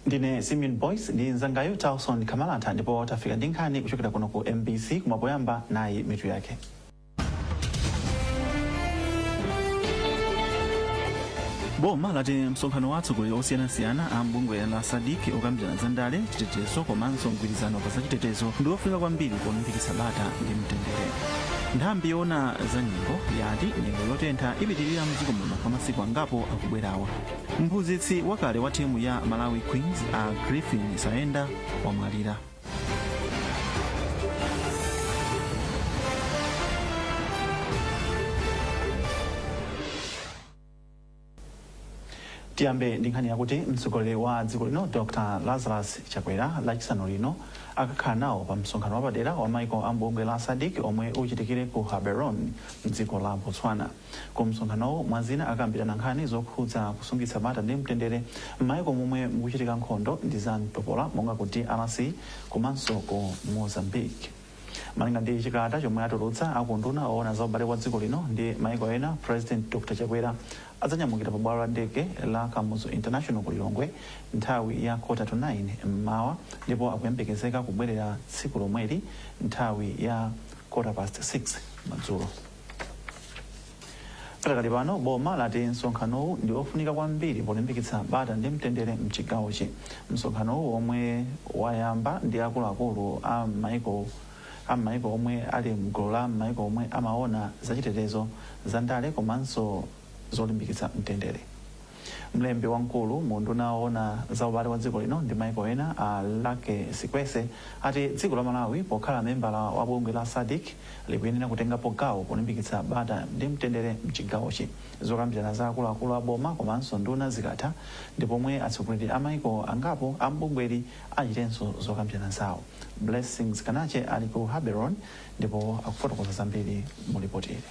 ndine simeon boyce ndi nzangayu townson kamalata ndipo tafika ndi nkhani kuchokera kuno ku mbc koma poyamba nayi mitu yake boma lati msonkhano wa atsogoleri osiyanasiyana a m'bungwe la sadc okambirana za ndale chitetezo komanso mgwirizano pa zachitetezo ndi ofunika kwambiri polimbikitsa bata ndi mtendere nthambi yoona za yati nyengo yotentha ipitirira mdziko muno kwa masiku angapo akubwerawa mphunzitsi wakale wa timu ya malawi queens a griffin saenda wamwalira Tiyambe ndi nkhani yakuti mtsogoleri wa dziko lino Dr Lazarus Chakwera lachisanu lino akakhala nawo pa msonkhano wapadera wa maiko a m'bungwe la Sadc omwe uchitikire ku Gaborone mdziko la Botswana. Ku msonkhanowu mwa zina akakambirana nkhani zokhudza kusungitsa bata ndi mtendere m'maiko momwe mukuchitika nkhondo ndi za mtopola monga ku drc komanso ku Mozambique. Malinga ndi chikalata chomwe atulutsa a ku unduna owona za ubale wa dziko lino ndi maiko ena, President Dr Chakwera adzanyamukira pa bwalo la ndege la Kamuzu International ku Lilongwe nthawi ya quarter to 9 m'mawa ndipo akuyembekezeka kubwerera tsiku lomweli nthawi ya quarter past 6 madzulo. Pakadali pano boma lati msonkhanowu ndi ofunika kwambiri polimbikitsa bata ndi mtendere mchigawochi. Msonkhanowu omwe wayamba ndi akuluakulu a m'maiko omwe ali mgulu la maiko omwe amaona zachitetezo, zandale komanso zolimbikitsa mtendere. Mlembi wamkulu mu unduna owona za ubale wa dziko lino ndi maiko ena a Lucky Sikwese ati dziko la Malawi pokhala membala wa bungwe la Sadc likuyenera kutengapo gawo polimbikitsa bata ndi mtendere mchigawochi. Zokambirana za akuluakulu a boma komanso nduna zikatha ndi pomwe atsogoleri a maiko angapo a m'bungweli achitenso zokambirana zawo. Blessings Kanache ali ku Gaborone ndipo akufotokoza zambiri mu lipoti ili.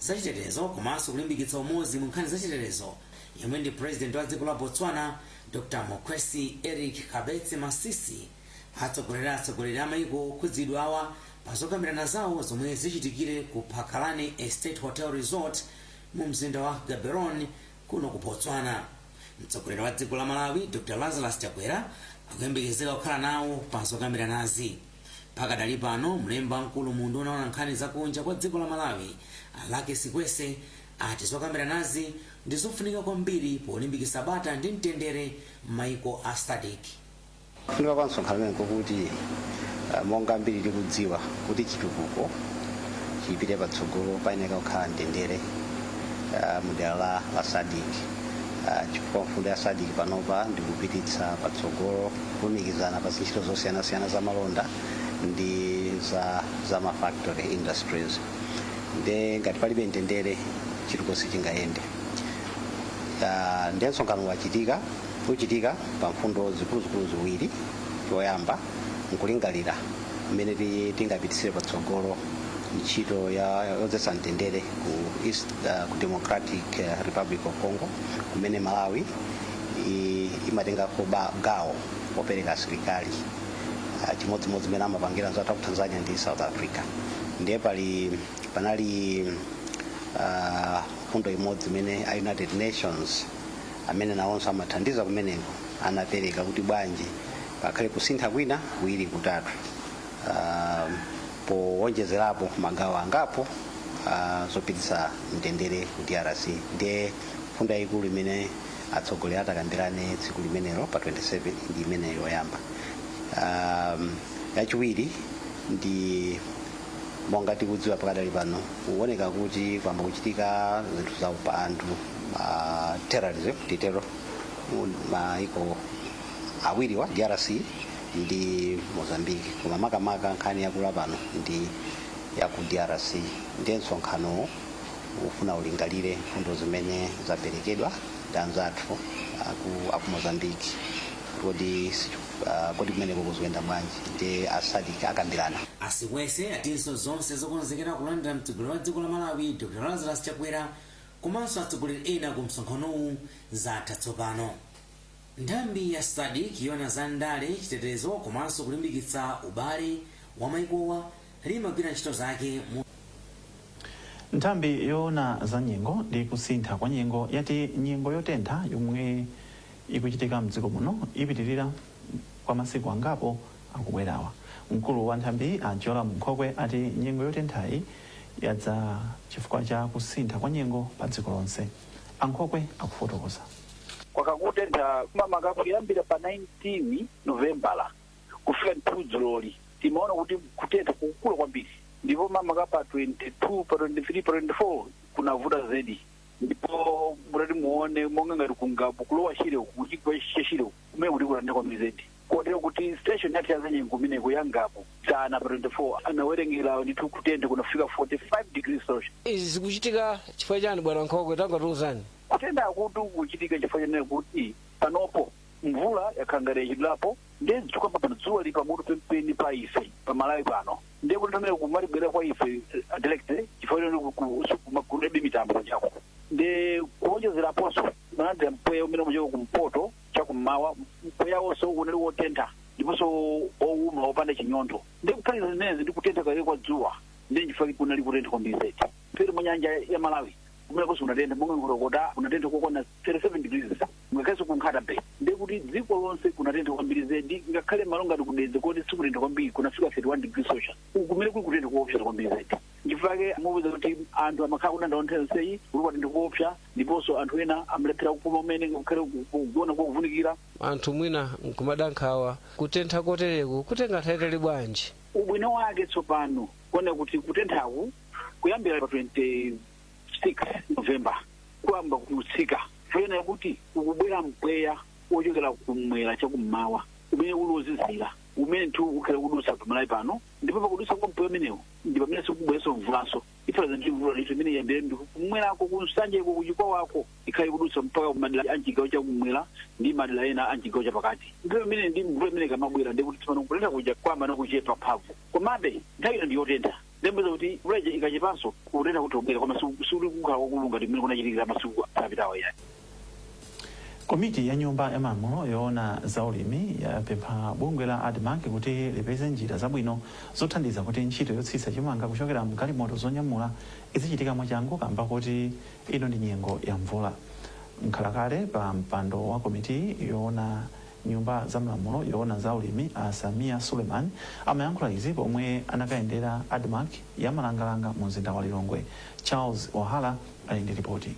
zachitetezo komanso kulimbikitsa umodzi mu nkhani zachitetezo yemwe ndi president wa dziko la Botswana Dr Mokgweetsi Eric Keabetswe Masisi atsogolera atsogoleri a maiko okhudzidwawa pa zokambirana zawo zomwe zichitikire ku Phakalane Estate Hotel Resort mu mzinda wa Gaborone kuno ku Botswana. Mtsogoleri wa dziko la Malawi Dr Lazarus Chakwera akuyembekezeka kukhala nawo pa zokambiranazi. Pakadali pano, mlembi wamkulu mu unduna woona nkhani za kunja kwa dziko la Malawi, a Lucky Sikwese, ati zokambiranazi ndi zofunika kwambiri polimbikitsa bata ndi mtendere m'maiko a Sadc. Kufunika kwa msonkhano umenewu nkokuti monga ambiri tikudziwa kuti chitukuko chipite patsogolo payenereka kukhala mtendere mu dera la Sadc chifukwa mfundo ya Sadc panopa ndi kupititsa patsogolo kulumikizana pa zintchito zosiyanasiyana za malonda ndi za, za mafactory industries nde ngati palibe mtendere chitukuko sichingayende Ah, nde msonkhano wachitika uchitika pa mfundo zikuluzikulu ziwiri choyamba nkulingalira mmene ti- tingapititsire patsogolo ntchito ya yodzetsa mtendere ku east ah, ku democratic ah, republic of congo kumene malawi i- imatengako ba- gawo popereka asilikali Ah, chimodzimodzi mmene amapangira anzathu aku tanzania ndi south africa ndiye pali panali ah, mfundo imodzi imene a united nations amene nawonso amathandiza kumeneko anapereka kuti bwanji pakhale kusintha kwina kuwiri kutatu Ah, powonjezerapo magawo angapo ah, zopititsa mtendere ku drc ndiye mfundo yayikulu imene atsogoleri atakambirane tsiku limenelo pa 27 ndi imene yoyamba um, yachiwiri ndi monga tikudziwa pakadali pano kuoneka kuti kwayamba kuchitika zinthu za upandu uh, terrorism titero m'maiko awiriwa drc ndi mozambique koma makamaka nkhani yakula pano ndi ya ku drc ndiye msonkhanowo ufuna ulingalire mfundo zimene zaperekedwa ndi anzathu aku, aku mozambique kuti uh, kodi kumeneko zikuyenda bwanji nde a sadc akambirana a sikwese atinso zonse zokonzekera kulandira mtsogoleri wa dziko la malawi dr lazarus chakwera komanso atsogoleri ena ku msonkhanowu zatha tsopano nthambi ya sadc yoona za ndale chitetezo komanso kulimbikitsa ubale wa maikowa limagwira ntchito zake mu. Nthambi yoona za nyengo ndi kusintha kwa nyengo yati nyengo yotentha yomwe ikuchitika mdziko muno ipitilira kwa masiku angapo akubwerawa. Mkulu wa nthambiyi a Jolam Nkhokwe ati nyengo yotenthayi yadza chifukwa cha kusintha kwa nyengo pa dziko lonse. A Nkhokwe akufotokoza. Kwakhala kukutentha makamaka kuyambira pa 19 Novembala kufika ndithu dzuloli timaona kuti kutentha kukukula kwambiri ndipo makamaka pa 22 pa 23 pa 24 kunavuta zedi ndipo mutati muone monga ngati ku ngabu ku lower shire uku kuchigwa cha shire uku kumene kuli kutentha kwambiri zedi kotero kuti station yathu yazanyengo kumeneko ya ngabu dzana pa 24 anawerengera ndithu kutentha kunafika 45 degrees celsius izi zikuchitika chifukwa chani bwana nkhokwe tangatiuzani kutenthakutu kuchitika chifukwa chonena kuti panopo mvula yakhala ngati yachedwerapo ndiye tikukamba pano dzuwa lili pamutu penipeni pa ife pa malawi pano ndiye kuti pamene kumatibwera kwa ife eh, direct chifukwa choti kuma kulibe mitambo kunjako ndi kuonjezeraponso timalandira mpweya umene umachokera kumpoto chakummawa mpweyawonso unali wotentha ndiponso owuma wopanda chinyontho ndi kuphatikiza zimenezi ndi kutentha kake kwa dzuwa ndi nchifukwa kunali kutentha kwambiri zedi mphepete mwa nyanja ya malawi kumenekonso kunatentha monga nkhotakota kunatentha kokwana 37 degrees Ngakhalenso ku Nkhata-bay ndiye kuti dziko lonse kunatentha kwambiri zedi, ngakhale malo ngati ku Dedza koti sikutentha kwambiri kunafika 31 degrees Celsius. Uku kumene kuli kutentha koopsa kwambiri zedi. Nchifukwa chake mupeza kuti anthu amakhala akudandaula nthawi yonseyi kuti kwatentha koopsa ndiponso anthu ena amalephera kupuma kumene ngakhale ku- kugona kovutikira. Anthu mwina nkumada nkhawa kutentha kotereku kutenga nthawi yaitali bwanji? Ubwino wake tsopano kuona kuti kutenthaku kuyambira pa 20 6 november kuyamba kutsika poona kuti ukubwera mpweya wochokera kumwera chakummawa umene uli wozizira umene ndithu ukhala kudutsa pamalawi pano ndipo pakudutsa kwa mpweya umenewu ndi pamene ikubweranso mvulanso ifanana ndi mvula ndithu imene iyambire ndi kumwerako kunsanjeko kuchikwawako ikhale ikudutsa mpaka kumadera a mchigawo chakumwera ndi madera ena a mchigawo chapakati ndipo imene ndi mvula imene ikamabwera ndikuti tsopano kutentha kuja kwayamba nakuchepa mphamvu komabe nthawi ino ndi yotentha nde mupeza kuti mvula ija ikachepanso kutentha kuti kubwera koma si- sikuli kukhala kwakukulu ngati mmene kunachitikira masiku apitawa ayi komiti ya nyumba ya malamulo yoona za ulimi yapempha bungwe la admarc kuti lipeze njira zabwino zothandiza kuti ntchito yotsitsa chimanga kuchokera mgalimoto zonyamula izichitika mwachangu kamba kuti ino ndi nyengo ya mvula mkhalakale pa mpando wa komiti yoona nyumba za malamulo yoona za ulimi a Sameer Suleman amayankhula izi pomwe anakayendera Admarc ya Malangalanga mu mzinda wa Lilongwe. Charles Wahara ali ndi lipoti.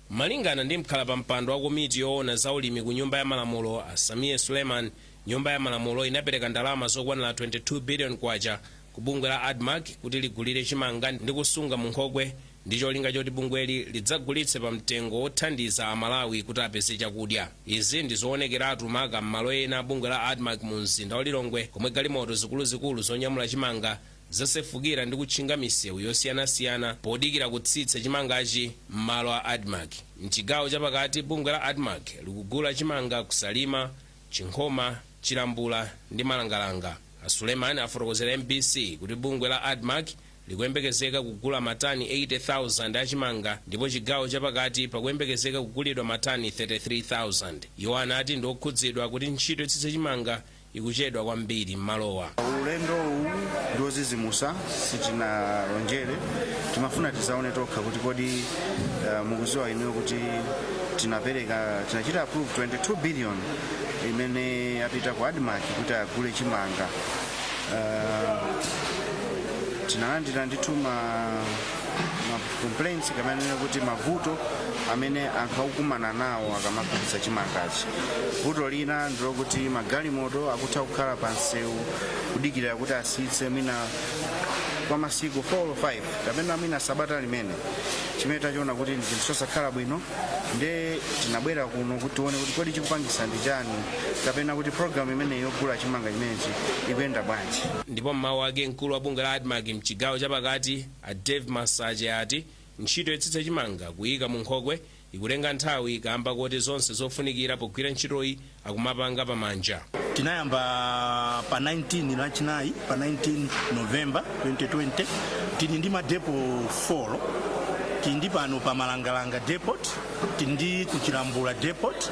Malingana ndi mkhalapampando wa komiti yoona za ulimi ku nyumba ya malamulo a Sameer Suleman, nyumba ya malamulo inapereka ndalama zokwanira 22 billion kwacha ku bungwe la Admarc kuti ligulire chimanga ndi kusunga mu nkhokwe ndi cholinga choti bungweli lidzagulitse pa mtengo wothandiza Amalawi kuti apeze chakudya. Izi ndi zoonekeratu maka m'malo ena a bungwe la Admarc mu mzinda wa Lilongwe komwe galimoto zikuluzikulu zonyamula chimanga zasefukira ndi kutchinga misewu yosiyanasiyana podikira kutsitsa chimangachi m'malo a Admarc. M'chigawo chapakati, bungwe la Admarc likugula chimanga ku Salima, Chinkhoma, Chilambula ndi Malangalanga. A Suleman afotokozera mbc kuti bungwe la Admarc likuyembekezeka kugula matani 80,000 a chimanga ndipo chigawo chapakati pakuyembekezeka kugulidwa matani 33,000. Iwo anati ndi okhudzidwa kuti ntchito yotsitsa chimanga ikuchedwa kwambiri m'malowa. Ulendo uwu ndi ozizimusa sitinalonjere timafuna tizaone tokha kuti kodi uh, mukuziwa inuyo kuti tinapereka tinachita approve 22 billion imene yapita ku admarc kuti agule chimanga uh, tinalandira ndithu ma ma complaints kunena kuti mavuto amene anthu akukumana nawo akamagulitsa chimangachi vuto lina ndilokuti magalimoto akutha kukhala pa msewu kudikirira kuti asitse mwina kwa masiku 4 or 5 kapena mwina sabata limene chimene tachiona kuti ndi chinthu chosakhala bwino nde tinabwera kuno kuti tione kuti kodi chikupangisa ndi chani kapena kuti programu imeneyi yogula chimanga chimenechi ikuyenda bwanji ndipo mmawu ake mkulu wa bungwe la admarc mchigawo chapakati a dave masache ati ntchito yotsitsa chimanga kuyika mu nkhokwe ikutenga nthawi kamba koti zonse zofunikira pogwira ntchitoyi akumapanga pamanja tinayamba pa 19 lachinayi pa 19 novemba 2020 tili ndi madepo 4 tili ndi pano pa malangalanga depot tili ndi kuchilambula depot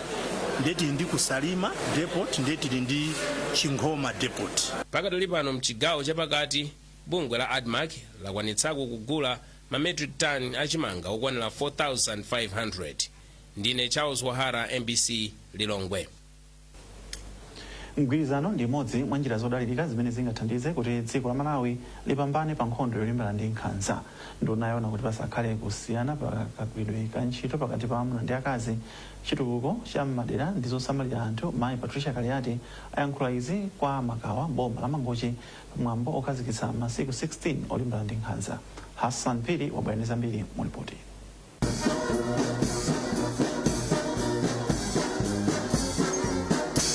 nde tili ndi kusalima depot nde tili ndi chinkhoma depot pakadali pano mchigawo chapakati bungwe la admarc lakwanitsako kugula ma metric ton achimanga okwanira 4500 Ndine Charles Wahara, mbc Lilongwe. Mgwirizano ndi imodzi mwa njira zodalirika zimene zingathandize kuti dziko la Malawi lipambane pa nkhondo yolimbana ndi nkhanza. Nduna yoona kuti pasakhale kusiyana pa kagwiridwe ka ntchito pakati pa amuna ndi akazi, chitukuko cha m'madera ndi zosamalira anthu mayi Patricia Kaliati ayankhula izi kwa Makawa m'boma la Mangochi pa mwambo okhazikitsa masiku 16 olimbana ndi nkhanza. Hassan Phiri wabwera ndi zambiri mu lipotili.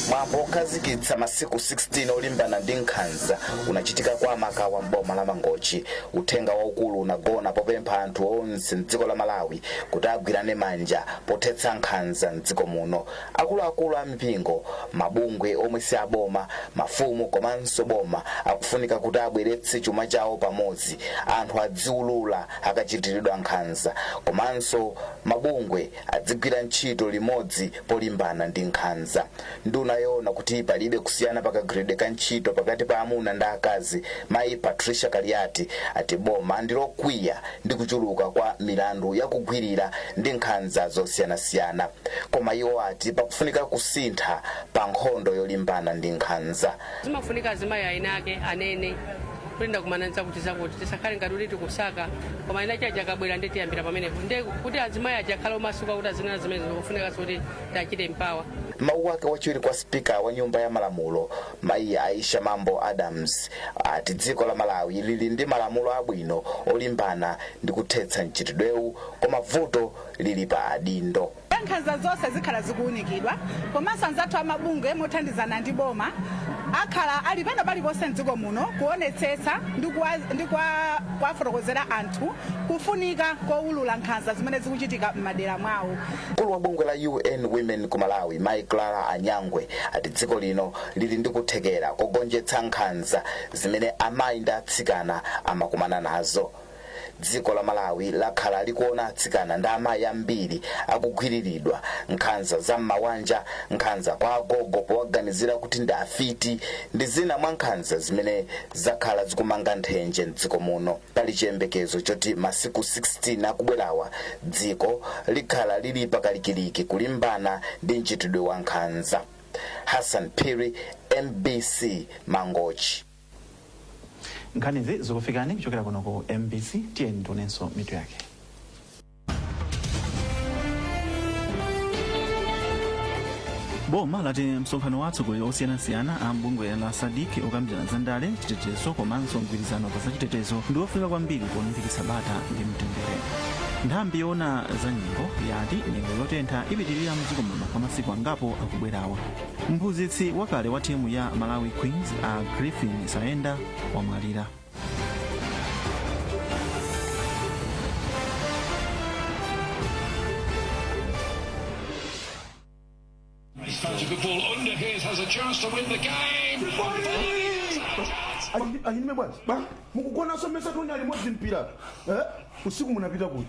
mwambo okhazikitsa masiku 16 olimbana ndi nkhanza unachitika kwa makawa mboma la mangochi uthenga waukulu unagona popempha anthu onse mdziko la malawi kuti agwirane manja pothetsa nkhanza mdziko muno akuluakulu a mipingo mabungwe omwe si aboma mafumu komanso boma akufunika kuti abweretse chuma chawo pamodzi anthu adziulula akachitiridwa nkhanza komanso mabungwe adzigwira ntchito limodzi polimbana ndi nkhanza. Nduna yoona kuti palibe kusiyana pa kagwiridwe ka ntchito pakati pa amuna ndi akazi mayi Patricia Kaliati ati boma ndi lokwiya ndi kuchuluka kwa milandu ya kugwirira ndi nkhanza zosiyanasiyana koma iwo ati pakufunika kusintha pa nkhondo yolimbana ndi nkhanza. Zimafunika azimayi eni ake anene. kuti ndakumana ndi zakutizakuti tisakhale ngati kuti tikusaka koma eni ake aja akabwera ndiye tiyambira pamenepo ndi kuti azimayi aja akhale omasuka kuti azinena zimene zikufunika zoti tichite mpawa. M'mawu ake wachiwiri kwa spika wa nyumba ya malamulo mayi aisha mambo adams ati dziko la malawi lili ndi malamulo abwino olimbana ndi kuthetsa mchitidwewu koma vuto lili pa adindo Nkhanza zonse zikhala zikuunikidwa komanso anzathu a mabungwe mothandizana ndi boma akhala ali pena paliponse m'dziko muno kuonetsetsa ndi kuwafotokozera anthu kufunika koulula nkhanza zimene zikuchitika m'madera mwawo. Mkulu wa bungwe la UN Women ku Malawi, Mayi Clara Anyangwe, ati dziko lino lili ndi kuthekera kogonjetsa nkhanza zimene amayi ndi atsikana amakumana nazo. Dziko la Malawi lakhala likuona atsikana ndi amayi ambiri akugwiriridwa, nkhanza za m'mawanja, nkhanza kwa agogo powaganizira kuti ndi afiti ndi zina mwa nkhanza zimene zakhala zikumanga nthenje m'dziko muno. Pali chiyembekezo choti masiku 16 akubwerawa dziko likhala lili pakalikiliki kulimbana ndi mchitidwe wa nkhanza. Hassan Phiri, mbc, Mangochi. nkhanizi zikufikani kuchokera kuno ku mbc tiyeni tionenso mitu yake boma lati msonkhano wa atsogoleri osiyanasiyana a mbungwe la SADC okambirana za ndale chitetezo komanso mgwirizano pa zachitetezo ndi ofunika kwambiri polimbikitsa bata ndi mtendere nthambi yoona za nyengo yati nyengo yotentha ipitirira mdziko muno kwa masiku angapo akubwerawa Mphunzitsi wakale wa timu ya Malawi Queens a Griffin Saenda wamwalira. That's a good ball under Hayes has a chance to win the game. Alinibe bwana. Ba, mukugona somesa toni alimodzi mpira. Eh? Usiku munapita kuti.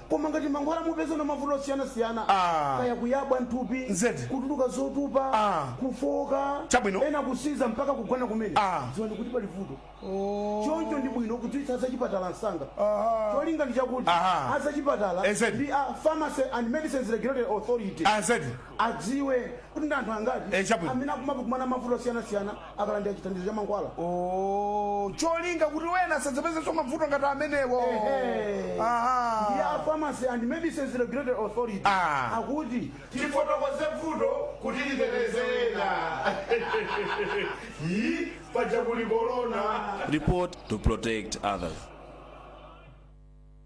koma ngati mankhwala mupeza nawo mavuto osiyanasiyana Ah. kaya kuyabwa mthupi Nzedi. kutuluka zotupa Ah. kufoka Chabwino. ena kusinza mpaka kugona kumene Ah. dziwani kuti pali vuto choncho ndi bwino kudziwitsa azachipatala msanga Aha. cholinga ndi chakuti Aha. azachipatala Nzedi. ndi a pharmacy and medicines regulatory authority Nzedi. adziwe kuti ndi anthu angati Eh, chabwino. amene akumakumana mavuto osiyanasiyana akalandira chithandizo cha mankhwala Oh, cholinga kuti wena asadzapezenso mavuto ngati amenewo Ehe. Aha. ndi a pharmacy and medicines regulatory authority Ah. akuti tifotokoze vuto kuti liteteze ena yi paja kuli korona report to protect others.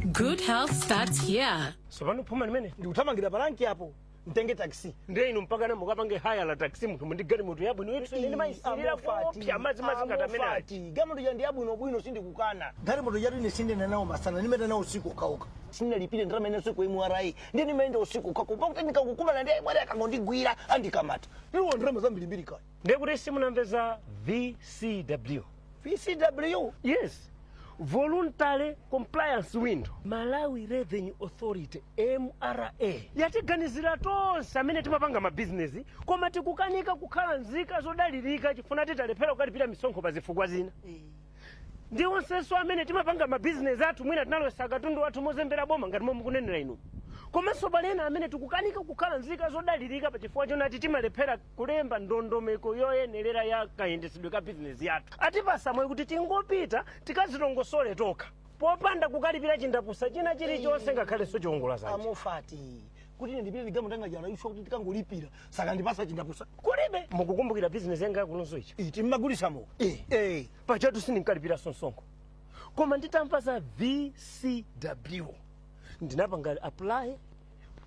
Good health starts here. tsopano phuma limene ndikuthamangira pa ranki apo mtenge taxi ndiye inu mpakana mukapange hayala taxi munthu muli ndi galimoto yabwino yetu ine ndimayisirira kuopsa madzi madzi ngati amene aja. a mofati galimoto ja ndiyabwinobwino sindikukana galimoto jatu ine sindiyenda nayo masana ndimayenda nayo usiku okhaokha sindinalipire ndalama ine usiku mra ndiye ndimayenda usiku okhaokha kuopa kuti ndikakumana ndi a mra akangondigwira andikamata ndiwo ndalama zambirimbiri kaya ndiye kuti simunamve za vcw vcw yes voluntary compliance window malawi revenue authority mra yatiganizira tonse amene timapanga mabizinesi koma tikukanika kukhala nzika zodalirika chifukwa tinalephera kukalipira misonkho pa zifukwa zina ndi onsenso amene timapanga mabizinesi athu mwina tinalowesa katundu wathu mozembera boma ngati momwe mukunenera inu komanso pali ena amene tikukanika kukhala nzika zodalirika pa chifukwa chonati timalephera kulemba ndondomeko yoyenerera ya kayendetsedwe ka bizinesi yathu atipatsa mwayi kuti tingopita tikadzilongosole tokha popanda kukalipira chindapusa china chilichonse ngakhalenso chiwongola dzanja a mofati kuti ine ndipite ndi galimoto yanga ija ife kuti ndikangolipira sakandipatsa chindapusa kulibe mukukumbukira bizinesi yanga yakunonso ichi iti mmagulitsamo Eh. pajatu sindinkalipira msonkho koma nditamva za vcw ndinapanga apply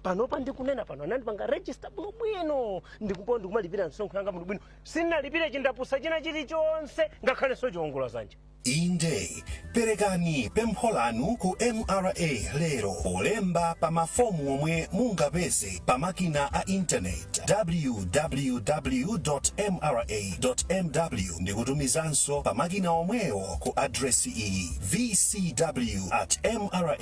panopa ndikunena pano anandipanga register bwinobwino ndipo ndikumalipira misonkho yanga bwinobwino sindinalipire chindapusa china chilichonse ngakhalenso chiwongola dzanja inde perekani pempho lanu ku mra lero polemba pa mafomu omwe mungapeze pa makina a intaneti www mra mw ndi kutumizanso pa makina omwewo ku adresi iyi vcw at mra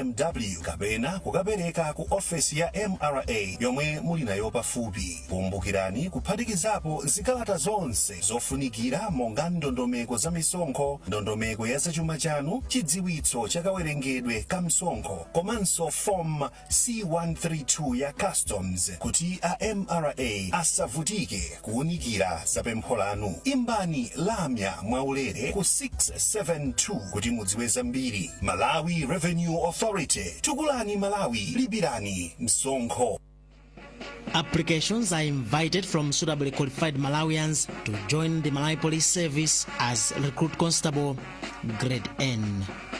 mw kapena kukapereka ku ofesi ya mra yomwe muli nayo pafupi. Kumbukirani kuphatikizapo zikalata zonse zofunikira monga ndondomeko za misonkho, ndondomeko ya zachuma chanu, chidziwitso cha kawerengedwe ka msonkho komanso fomu C132 ya Customs kuti a mra asavutike. kuunikira za pempho lanu. Imbani lamya mwaulere ku 672 kuti mudziwe zambiri. Malawi Revenue Authority, tukulani Malawi, lipirani msonkho. Applications are invited from suitably qualified Malawians to join the Malawi Police Service as Recruit Constable, Grade N.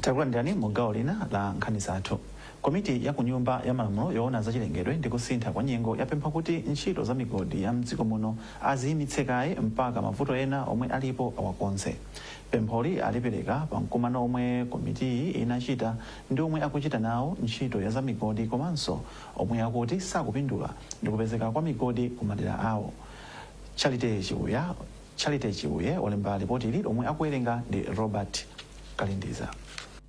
takulandirani mu gawo lina la nkhani zathu komiti ya kunyumba ya malamulo yoona za chilengedwe ndi kusintha kwa nyengo yapempha kuti ntchito za migodi ya mdziko muno aziyimitse kaye mpaka mavuto ena omwe alipo awakonze pempholi alipereka pa mkumano omwe komitiyi inachita ndi omwe akuchita nawo ntchito ya za migodi komanso omwe akuti sakupindula ndi kupezeka kwa migodi ku madera awo charity chiuye Charity Chiuye walemba lipotili lomwe akuwerenga ndi Robert Kalindiza.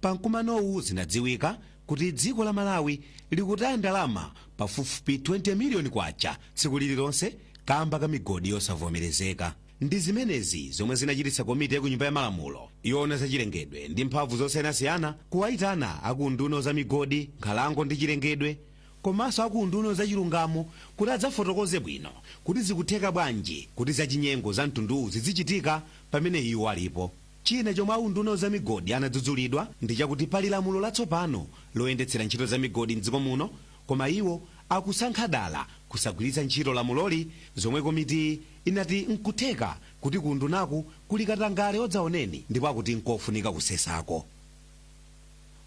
Pa mkumanowu zinadziwika kuti dziko la Malawi likutaya ndalama pafupifupi 20 miliyoni kwacha tsiku lililonse kamba ka migodi yosavomerezeka. Ndi zimenezi zomwe zinachititsa komiti ya ku nyumba ya malamulo yoona za chilengedwe ndi mphamvu zosiyanasiyana kuwaitana a ku unduna wa za migodi, nkhalango ndi chilengedwe komanso a ku unduna wa zachilungamo kuti adzafotokoze bwino kuti zikutheka bwanji kuti zachinyengo za mtunduwu zidzichitika pamene iwo alipo. China chomwe a unduna wa zamigodi anadzudzulidwa ndi chakuti pali lamulo latsopano loyendetsera ntchito za migodi m'dziko muno koma iwo akusankha dala kusagwiritsa ntchito lamuloli zomwe komitiyi inati n'kutheka kuti ku undunaku kuli katangale wadzaoneni ndipo akuti n'kofunika kusesako.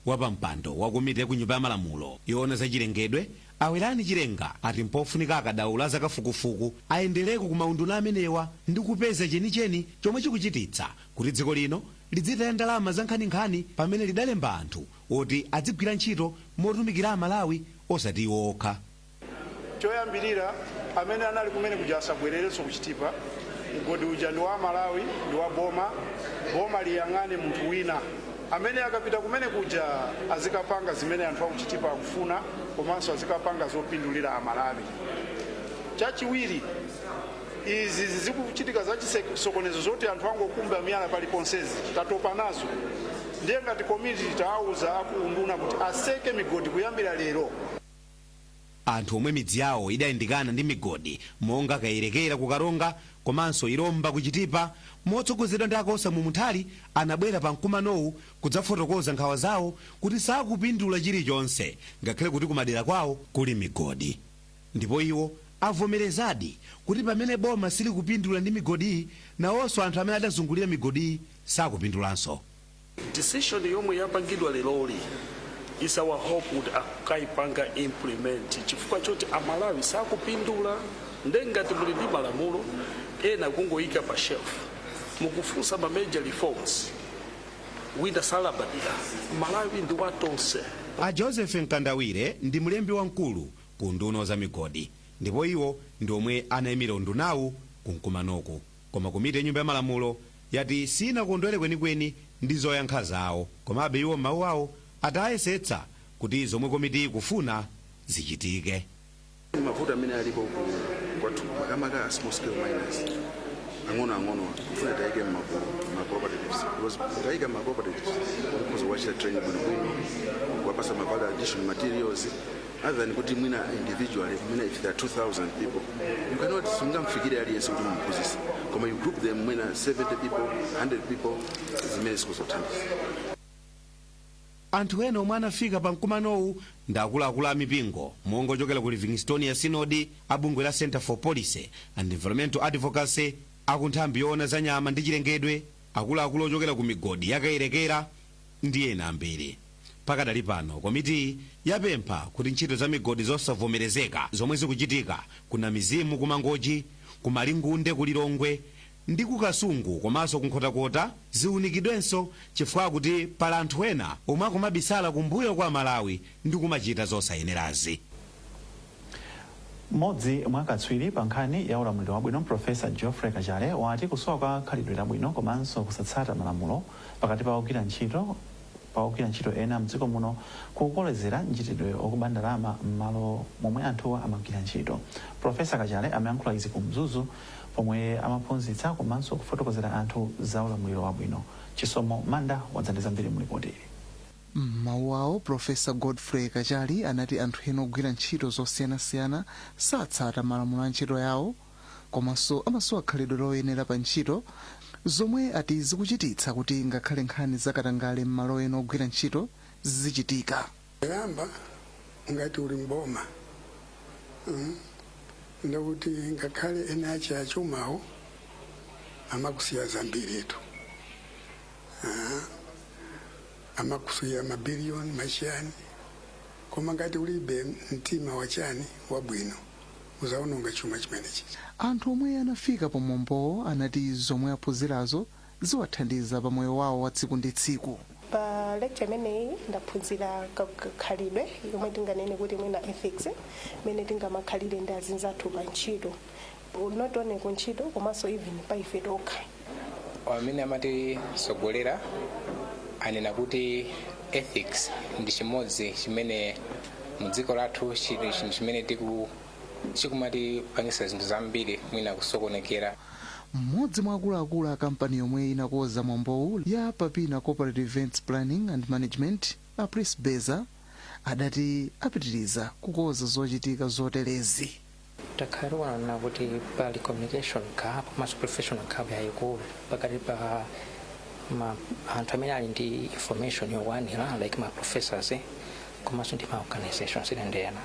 Wapampando wa komiti ya ku Nyumba ya Malamulo yoona za chilengedwe, a Werani Chilenga, ati mpofunika akadaulo a zakafukufuku ayendereko ku maunduna amenewa ndi kupeza chenicheni chomwe chikuchititsa kuti dziko lino lidzitaya ndalama zankhaninkhani pamene lidalemba anthu oti adzigwira ntchito motumikira Amalawi osati iwo okha. Choyambilira amene anali kumene kuja asabwelerenso ku Chitipa, mgodi uja ndi wa aMalawi ndi wa boma, boma liyang'ane munthu wina amene akapita kumene kuja azikapanga zimene anthu aku Chitipa akufuna komanso azikapanga zopindulira aMalawi. Chachiwiri izi zikuchitika za chisokonezo zoti anthu angokumba miyala pali ponsezi tatopa nazo ndiye ngati komiti tawauza aku unduna kuti atseke migodi kuyambira lero. Anthu omwe midzi yawo idayandikana ndi migodi monga Kayerekera ku Karonga komanso Ilomba ku Chitipa, motsogozedwa ndi a Kosamu Munthali anabwera pa mkumanowu kudzafotokoza nkhawa zawo kuti sakupindula chilichonse ngakhale kuti kumadera kwawo kuli migodi ndipo iwo avomerezadi kuti pamene boma silikupindula ndi migodiyi, nawonso anthu amene adazungulira migodiyi sakupindulanso. Decision yomwe yapangidwa leroli is our hope kuti akaipanga implement chifukwa choti amalawi sakupindula nde ngati muli ndi malamulo ena kungoyika pa shelf mukufunsa ma major reforms wina salabadira malawi ndi watonse A Joseph Mkandawire ndi mlembi wamkulu ku unduna wa zamigodi ndipo iwo ndi omwe anaimira undunawu ku mkumanoku. Koma komiti ya Nyumba ya Malamulo yati siinakondwere kwenikweni ndi zoyankha zawo. Komabe iwo m'mawu awo ati ayesetsa kuti zomwe komitiyi ikufuna zichitike. Mavuto amene alipo kwathuku makamaka a small scale miners ang'onoang'onowa tikufuna tiwaike m'magulu ma cooperatives because mutawaika ma cooperatives mukhoza kuwachita train bwinobwino kuwapasa ma value addition materials other than kuti mwina individually mwina if there are 2000 people you cannot sungamfikire aliyense kuti mumphunzise koma you group them mwina 70 people 100 people zimene zikuzathandiza anthu ena omwe anafika pa mkumanowu ndi akuluakulu a mipingo monga ochokera ku livingstonia sinodi a bungwe la center for policy and environmental advocacy aku nthambi yoona za nyama ndi chilengedwe akuluakulu ochokera ku migodi yakayerekera ndi ena ambiri. Pakadali pano komitiyi yapempha kuti ntchito za migodi zosavomerezeka zomwe zikuchitika ku Namizimu ku Mangochi, ku Malingunde ku Lilongwe ndi ku Kasungu komanso ku Nkhotakota ziunikidwenso chifukwa akuti pali anthu ena omwe akumabisala kumbuyo kwa Amalawi ndikumachita zosayenerazi. Mmodzi mwa akatswiri pa nkhani ya ulamuliro wabwino Professor Geoffrey Kachale wati kusowa kwa khalidwe labwino komanso kusatsata malamulo pakati pa ogwira ntchito pa ogwira ntchito ena mdziko muno kukukolezera mchitidwe wokuba ndalama mmalo momwe anthuwa amagwira ntchito. Professor Kachale amayankhula izi ku Mzuzu pomwe amaphunzitsa komanso kufotokozera anthu za ulamuliro wabwino. Chisomo Manda wadza ndi zambiri mu lipoti ili. M'mawu awo, Pulofesa Godfrey Kachali anati anthu ena ogwira ntchito zosiyanasiyana satsata malamulo a ntchito yawo komanso amasowa khalidwe loyenera pa ntchito zomwe ati zikuchititsa kuti ngakhale nkhani za katangale m'malo ena ogwira ntchito zizichitika. Poyamba ngati uli m'boma mm ndekuti ngakhale eni ache achumawo amakusiya zambiritu. Ah, amakusiya mabiliyoni machiyani koma ngati ulibe mtima wachiyani wabwino uzaononga chuma chimenechi anthu omwe anafika pamwambowo anati zomwe aphunzirazo ziwathandiza pa moyo wawo wa tsiku ndi tsiku pa lecture imeneyi ndaphunzira ka- ka- khalidwe yomwe tinganene kuti mwina ethics imene tingamakhalire ndi azinzathu pa ntchito not only ku ntchito komanso even pa ife tokha amene amatitsogolera anena kuti ethics ndi chimodzi chimene mu dziko lathu chili chinthu chimene tiku chikumatipangisa zinthu zambiri mwina kusokonekera mmodzi mwa akuluakulu a kampani yomwe inakoza mwambowu ya papina corporative events planning and management a prince beza adati apitiriza kukoza zochitika zoterezi takhala tikuonana kuti pali communication gap komanso professional gap yayikulu pakati pa anthu amene ali ndi information yokwanira like ma professors eh, komanso ndi ma organizations ena ndi ena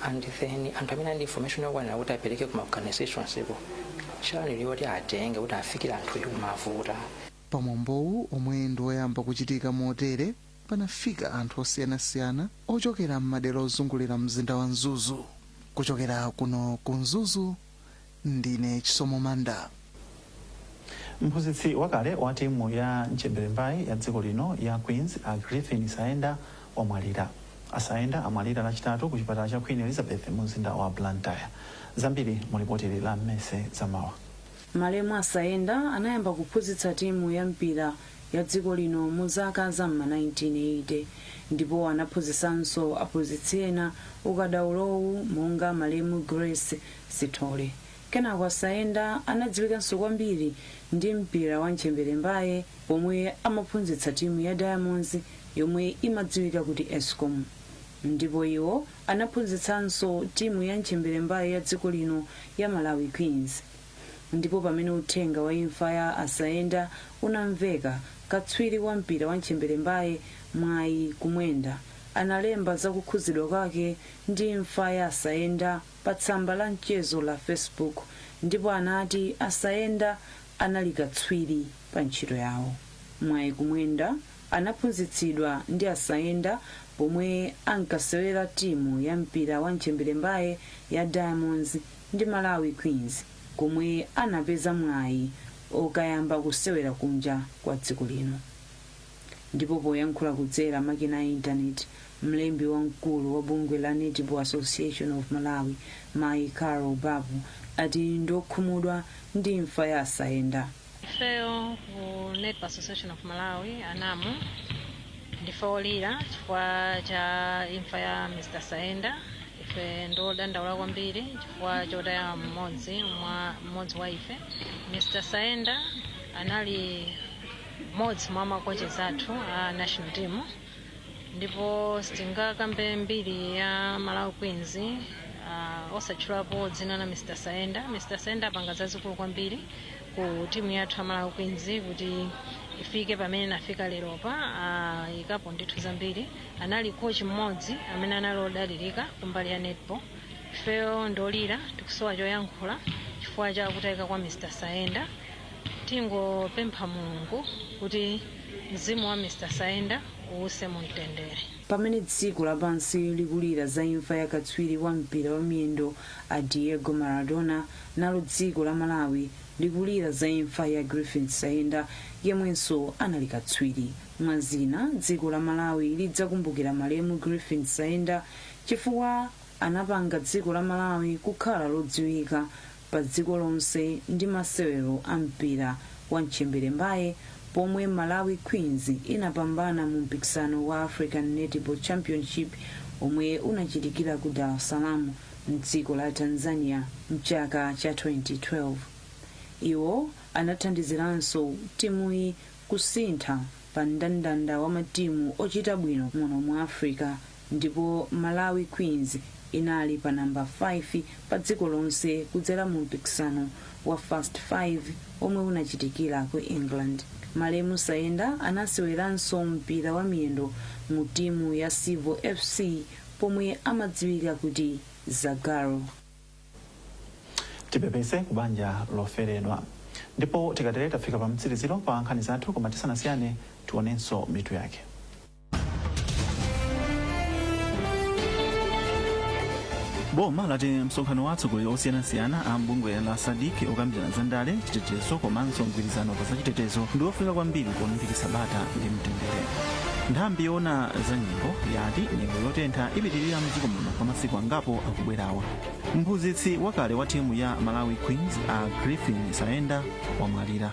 and then anthu amene ali ndi information yokwanira kuti apereke ku ma organizations koma channel yoti atenge kuti afikire anthu yikumavuta pamwambowu omwe ndi woyamba kuchitika motere panafika anthu osiyanasiyana ochokera m'madera ozungulira mzinda wa Mzuzu. Kuchokera kuno ku Mzuzu, ndine Chisomo Manda. Mphunzitsi wakale wa timu ya Ntchemberembaye ya dziko lino ya Queens, a Griffin Saenda, wamwalira. A Saenda amwalira Lachitatu ku chipatala cha Queen Elizabeth mu mzinda wa Blantyre. Zambiri mu lipotili la Mercy Zamawa. Malemu a Saenda anayamba kuphunzitsa timu ya mpira ya dziko lino mu zaka za m'ma 1980 ndipo anaphunzitsanso aphunzitsi ena ukadaulowu monga malemu Grace Sithole. Kenako a Saenda anadziwikanso kwambiri ndi mpira wa ntchemberembaye pomwe amaphunzitsa timu ya Diamonds yomwe imadziwika kuti Escom ndipo iwo anaphunzitsanso timu ya ntchemberembaye ya dziko lino ya Malawi Queens. Ndipo pamene uthenga wa imfa ya a Saenda unamveka, katswiri wa mpira wa ntchemberembaye, Mwayi Kumwenda, analemba za kukhuzidwa kwake ndi imfa ya a Saenda pa tsamba la mchezo la Facebook ndipo anati a Saenda anali katswiri pa ntchito yawo. Mwayi Kumwenda anaphunzitsidwa ndi a Saenda pomwe ankasewera timu ya mpira wa ntchemberembaye ya Diamonds ndi Malawi Queens komwe anapeza mwayi okayamba kusewera kunja kwa dziko lino. Ndipo poyankhula kudzera makina a internet, mlembi wamkulu wa bungwe la Netball Association of Malawi, Mayi Carol Bapu, ati ndiokhumudwa ndi imfa ya a Saenda. ifeyo ku netball association of malawi a NAM ndife olira chifukwa cha imfa ya mr saenda ife ndiodandaula kwambiri chifukwa chotaya mmodzi wa ife mr saenda anali mmodzi mwa makochezi athu a national team ndipo sitingakambe mbiri ya malawi queens uh, osatchulapo dzina la mr saenda mr saenda apanga zazikulu kwambiri ku timu yathu ya malawi queens kuti ifike pamene inafika leropa aikapo ndithu zambiri anali coach mmodzi amene anali odalirika kumbali ya netball ifeyo ndolira tikusowa choyankhula chifukwa cha kutayika kwa mr saenda Tingopempha Mulungu kuti mzimu wa Mr Saenda uwuse mu mtendere. Pamene dziko lapansi likulira za imfa ya katswiri wa mpira wa miyendo a Diego Maradona, nalo dziko la Malawi likulira za imfa ya Griffin Saenda yemwenso anali katswiri. Mwa zina, dziko la Malawi lidzakumbukira malemu Griffin Saenda chifukwa anapanga dziko la Malawi kukhala lodziwika pa dziko lonse ndi masewero a mpira wa ntchemberembaye pomwe Malawi Queens inapambana mu mpikisano wa African Netball Championship omwe unachitikira ku Dar es Salaam mdziko la Tanzania mchaka cha 2012. Iwo anathandiziranso timuyi kusintha pa mndandanda wa matimu ochita bwino muno mu Africa ndipo malawi queens inali pa namba 5 pa dziko lonse kudzera mu mpikisano wa fast 5 omwe unachitikira ku england malemu saenda anaseweranso mpira wa miyendo mu timu ya civo fc pomwe amadziwika kuti zagaro tipepese ku banja loferedwa ndipo tikatere tafika pa mtsiriziro pa nkhani zathu koma tisanasiyane tionenso mitu yake boma lati msonkhano wa atsogoleri osiyanasiyana a m'bungwe la sadc okambirana za ndale chitetezo komanso mgwirizano pa zachitetezo ndi ofunika kwambiri polimbikitsa bata ndi mtendere nthambi yoona za nyengo yati nyengo yotentha ipitirira mdziko muno kwa masiku angapo akubwerawa mphunzitsi wakale wa timu ya malawi queens a griffin saenda wamwalira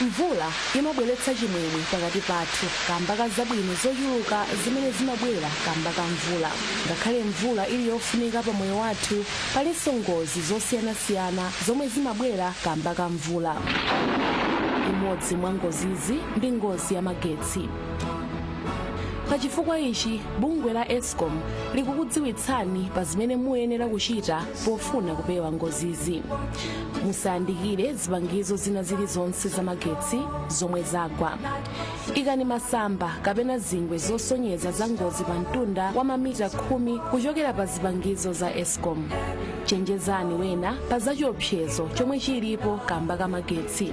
mvula imabweretsa chimwemwe pakati pathu kamba ka zabwino zochuluka zimene zimabwera kamba ka mvula ngakhale mvula ili yofunika pa moyo wathu palinso ngozi zosiyanasiyana zomwe zimabwera kamba ka mvula imodzi mwa ngozizi ndi ngozi ya magetsi pa chifukwa ichi bungwe la escom likukudziwitsani pa zimene muyenera kuchita pofuna kupewa ngozizi musayandikire zipangizo zina zilizonse zamagetsi zomwe zagwa ikani masamba kapena zingwe zosonyeza za ngozi pa mtunda wa mamita khumi kuchokera pa zipangizo za escom chenjezani wena pa zachiopsezo chomwe chilipo kamba ka magetsi